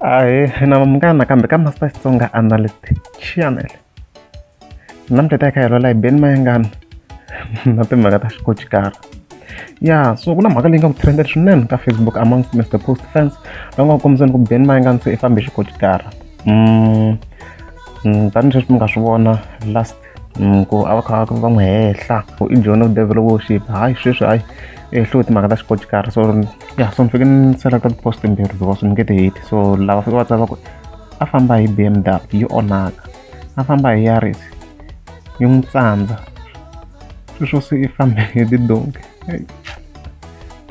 Ahee na vanghana kambe ka Master Xitsonga Analyst Channel namuntlha hi ta hi kha hi lwela hi Ben Mayengani na timhaka ta xikochikara ya so ku na mhaka leyi nga ku trended swinene ka Facebook amongst Mr Post fans va nga ku kombiseni ku Ben Mayengani se i fambe xikochikara mm, mm, tanihileswi mi nga swi vona last mm, ku a va kha va n'wi hehla ku i john of devil worship hayi sweswi hayi e hluwe timhaka ta xikotikara so ya so ni fike ni selekta tipost timbirhi because ni nge ti heti so lava fike va tsava ku a famba hi b m w yi onhaka a famba hi yaris yi n'wi tsandza sweswo se i fambe hi tidonki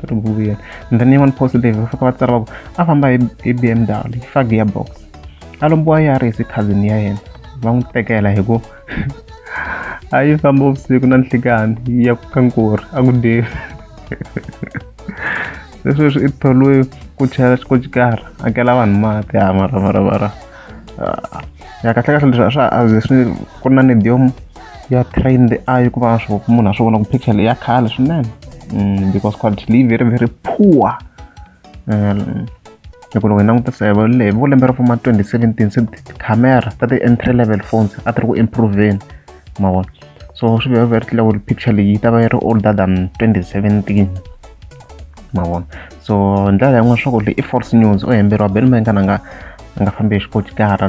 ri bukuyeni and then yin'wani post leyi va fika va tsara va ku a famba hi b m w yi fa gearbox a lombiwa ya ri hi cousin ya yena va n'wi tekela hi ku a yi famba vusiku na nhlikani yi ya ka nkori a ku dyevi se sweswi i tholiwe ku chela xikochikara akela vanhu mati ha mara mara mara ah, ya kahle kahle leswi a swa a ze swi ku na nedium ya trained ayi ku va swo munhu a swi vona ku picture leyi ya khale swinene mm, because quality leyi very very poor loko loko hi langutisa hi va le vo lembe ra vo ma 2017 se tikhamera ta ti-entry level phones a ti ri ku improveni ma vona so swi vhe very clear ku picture leyi yi ta va yi ri older than 2017 ma vona so hi ndlela yin'wana swa ku leyi i false news o hemberiwa bel ma nga na nga a nga fambi hi xikochikara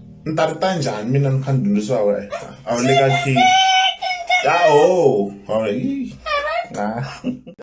ni ta ri ta njhani mina ni kha ni dyondzisa wa wena a wu le ka key ya ho